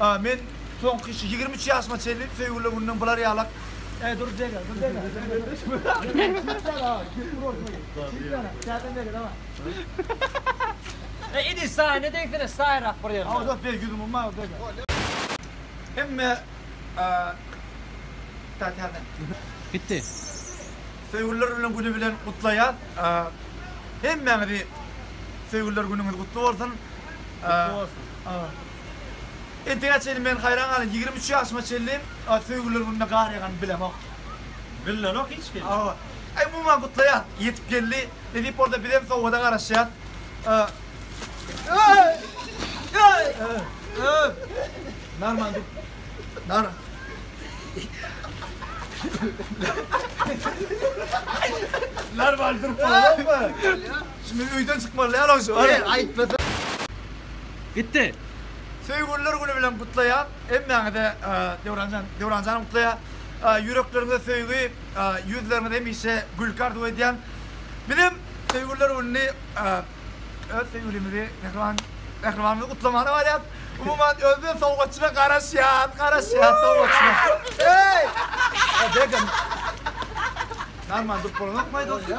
A men soňky şu ýigrimi üç ýaşyma çenli söýgüler gününden bular ýalak Eý dur jege dur jege Eý idi saýa ne degsene saýrak bir ýerde. Awa dört beýik ýüzüň umma jege. Hemme Tä täze. Gitdi. Söýgüliler bilen güni bilen gutlaýas hemmäňizi söýgüliler günüňiz gutly bolsun. Gutly bolsun. Entegä çenli men haýran galyň ýigrimi üç ýaşyma çenli söýgüliler gününe gar ýaganyny bilemok. Billenok hiç kim. Umuman gutlaýas ýetip geldi edip bolsa bizem sowgada garaşýas. Narman dur. Nar. Narman durup bolanokmy? Şimdi öyden çykmaly däl o şu. Ey aytmasa. Gitdi. Söýgüliler güni bilen gutlaýan hemmäňize Döwranjan Döwranjanyň gutlaýa. Ýürekleriňize söýgi, ýüzleriňiz hemişe gülki arzuw edýän. Bizem söýgüliler gününi öz söýgülimizi Mähriban Mähribanymyzy gutlamana barýas. Umuman özde sowgatçyna garaşýas, garaşýas sowgatçyna. Eý! Bergen. Narman durup bolanokmy aýdylsyn?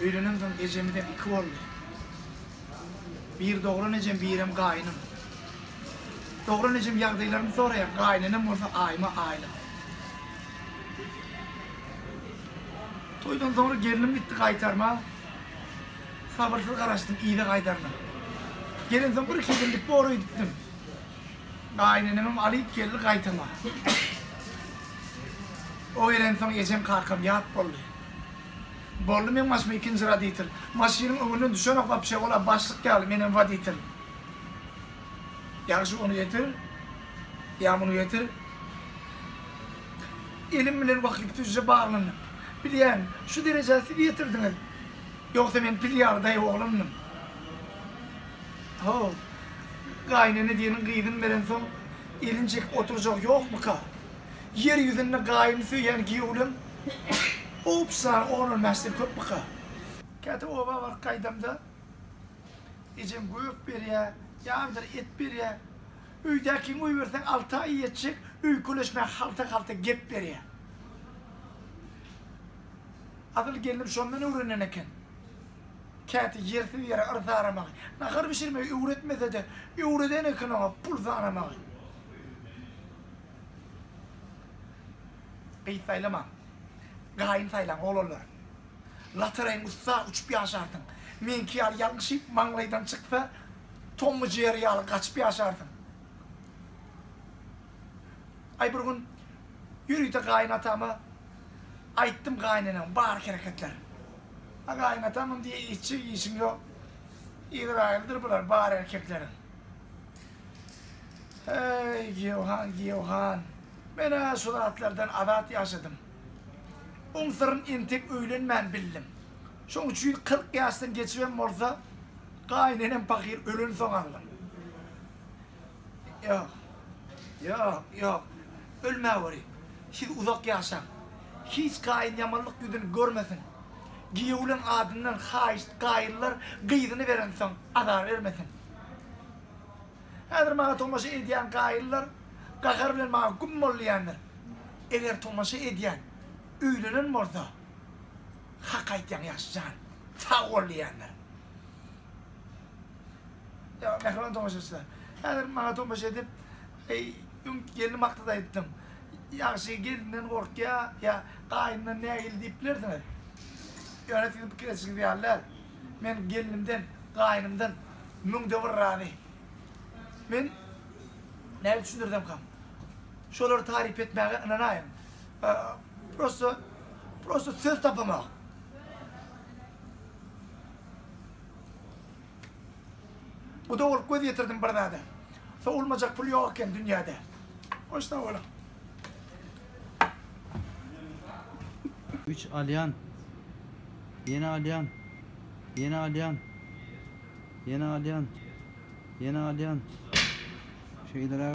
Öýlenemsoň ejemizem iki boldy. Bir dogran ejem, birem gaýnym. Dogran ejem ýagdaýlarymy soraýar, gaýynenem bolsa aýyma aýlyk. Toýdan soňra gelnim gitdi gaýtarma. Sabyrsyz garaşdym yza gaýdaryna. Gelensoň bir-iki ýyl gitdi ora gitdim. Gaýynenemem alyp geldi gaýtama. O gelensoň ejem-kakam ýat boldy. Boldy meň başyma ikinji roditel. Maşynyň öňünden düşenok wapşe, ol-a başlyk ýaly, menem woditel. Ýagşy ony getir, ýa muny getir. Elim bilen wakyp düzje baglandym. Bilýän, şu derejä siz ýetirdiňiz. Ýogsa men pil ýaly daýaw oglandym. How. Gaýynene diýeniň gyzyn berensoň elini çekip oturjak ýokmyka? Ýer ýüzünde gaýyny söýýän giýewlem obsany on on bäşden köpmika? Käte oba baryp gaýdamda ejem gök berýä, ýagdyr et berýä. Öýdäkiň goýberseň alty aý ýetjek öýkeleşmän halta-halta gep berýä. Adyl gelnim şondan öwrenen eken. Käte ýersiz ýere yrs aramagy. Nahar bişirmegi öwretmese-de, öwreden eken oňa pul sanamagy. Gyz saýlamaň, gaýyn saýlaň, oglanlar. Lotoreýiň ussa uçup ýaşarsyň. Meňki ýaly ýalňyşyp maňlaýdan çyksa, Tom we Jerry ýaly gaçyp ýaşarsyň. Aý bir gün ýörite gaýynatama aýtdym gaýynenem bar hereketler. A gaýynatamam diýýä işçi işiň ýok. Izraýyldyr bular bar erkekleriň. Heý giýewhan giýewhan. Men-ä şu zatlardan azat ýaşadym. Oň syryn entek öýlenmän bildim. Şoň üçin kyrk ýaşdan geçibem bolsa gaýynenem pahyr ölensoň aldym. Ýok. Ýok, ýok. Ölmäweri. Siz uzak ýaşaň. Hiç gaýyn ýamanlyk ýüzüni görmesin. Giýewleň adyndan haýyşt gaýynlar gyzyny berensoň azar bermesin. Häzir maňa tomaşa edýän gaýynlar gahar bilen maňa güm bollaýandyr. Eger tomaşa edýän öýlenen bolsa, Hak aýtýaň ýaş jan, sag bol diýendir. Ýa mähriban tomaşaçylar. Häzir maňa tomaşa edip, öň gelni makdat aýtdyň. Ýagşy gelninden gorkýa ýa gaýynyndan nägile diýip bilersiňiz. Ýöne siziň pikir edişiňiz ýaly däl. Men gelnimden, gaýynymdan müňde bir razy. Men nädip düşündirsem-kam? Şolary taryp etmäge ynanaýyň. Prosto prosto söz tapamok. Guda bolup göz ýetirdim bir zada. Sowulmajak pul ýok eken dünýäde. Hoş sag boluň. Üç alýan. Ýene alýan. Ýene alýan. Ýene alýan. Ýene alýan. Şeýdara.